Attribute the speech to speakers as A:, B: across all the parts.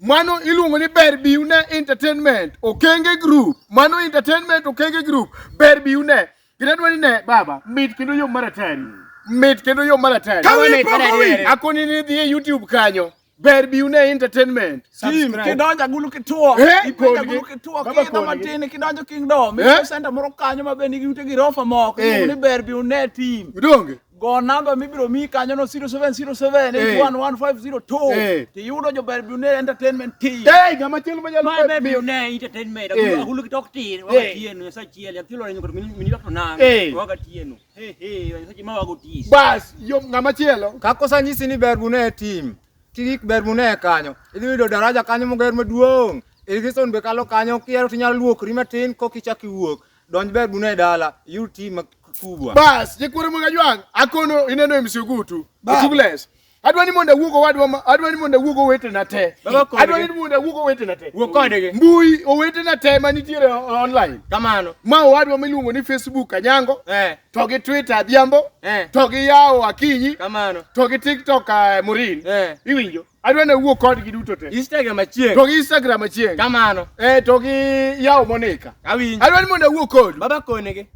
A: mano iluongo ni ber biune entertainment okenge group mano entertainment okenge group ber biune gidadwa ni ne baba mit kendo yo maratari mit kendo yo maratari Kawin pok owin. akoni ni dhi e youtube kanyo ber biune entertainment Tim, kidonjo agulu
B: kituo Eh, ipenjo kodgi. agulu kituo Baba kiidho kodgi. matin kidonjo kingdom Eh? iko senta moro kanyo ma be nigi ute girofa moko Eh. iluongo ni ber biune tim donge Go namba
A: mibiro
B: miyi kanyono 0707811502 eh. tiyudo jober Bune Entertainment Team. Hey, ng'ama chielo ma nyalo
A: bedo Bune
C: Entertainment. Eh. Ahulu kitok tin, waga eh. tienu, yasa chiel, yathilo renyo kod mini dok nan, waga tienu. Hey, hey, yasa chima wago tis. Bas, yo ng'ama
A: chielo. Kako sa nyisi ni ber
D: Bune Team, kigik ber Bune kanyo, idhi yudo daraja kanyo moger maduong'. Irigison be kalo kanyo kiero tinyalo luokri matin kokichak iwuok. Donj ber bune dala, you team kubwa. Bas, jikwere mga
A: jwang, akono ineno e msiogutu, utugles. Adwa ni mondo awuog owadwa, adwa ni mondo awuog owetena te. Adwa ni mondo awuog owetena te. Wuog kodgi. Mbui
B: owetena
A: te ma nitiere online. Kamano. Ma
B: owadwa miluongo
A: ni Facebook Anyango. Eh. To gi Twitter Adhiambo. Eh. To gi yawo Akinyi. Kamano. To gi
B: TikTok
A: uh, Morin. Eh. Iwinjo? adwa ne wuo kodgi duto te Instagram achieng. to gi
B: Instagram achieng
A: Kamano. eh to
B: gi
A: yawo monika Awinjo. adwa ni mondo awuo
B: kodu
A: Baba konege.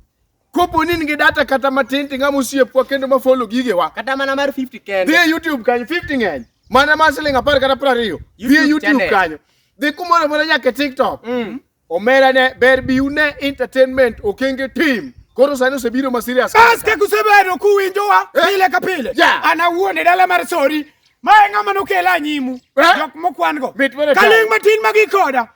B: kopo ni in
A: gi data kata matin ting'a mosiepwa kendo ma follow gigewa Kata mana mar 50 dhi
B: kende. e YouTube kanyo 50
A: ng'eny mana mar siling apar kata piero ariyo dhi e YouTube YouTube channel. kanyo dhi kumoro amora nyaka e TikTok Mm. Omera ne ber bi une entertainment okenge team. Koro sani osebiro ma serious. Bas kaka usebedo
B: kuwinjowa Eh. pile ka pile. Yeah. An awuon e dala mar Sori. Ma e ng'ama nokela anyimu. Eh. Jok mokwan-go. Mit mana Ka tayo. ling' matin ma gikoda.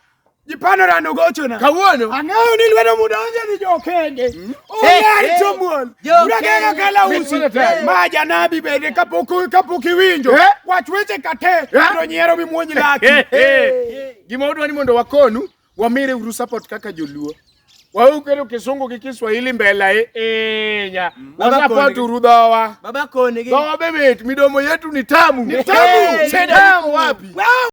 B: Jipanora nogochona. Kawuono. Ang'eyo ni
A: lwedo
B: mudonjo ni jokenge. Eh, Oyar eh. chomuol. Jokenge. Urakega kala Mit usi. mana tayo. Ma janabi bende kapok kapok iwinjo. Eh. Wach weche kate. Eh. To nyiero mimuonj laki. Eh, eh.
A: Gima wadwa ni mondo wakonu wamire uru support kaka joluo. Waukero kisungu gi Kiswahili mbela e enya. Mm. Baba Wasapoti koni. urudhowa. Baba koni gi. Dhowa be mit,
B: midomo
A: yetu ni tamu. Ni tamu. Hey, Shida
B: tamu.
A: iko wapi?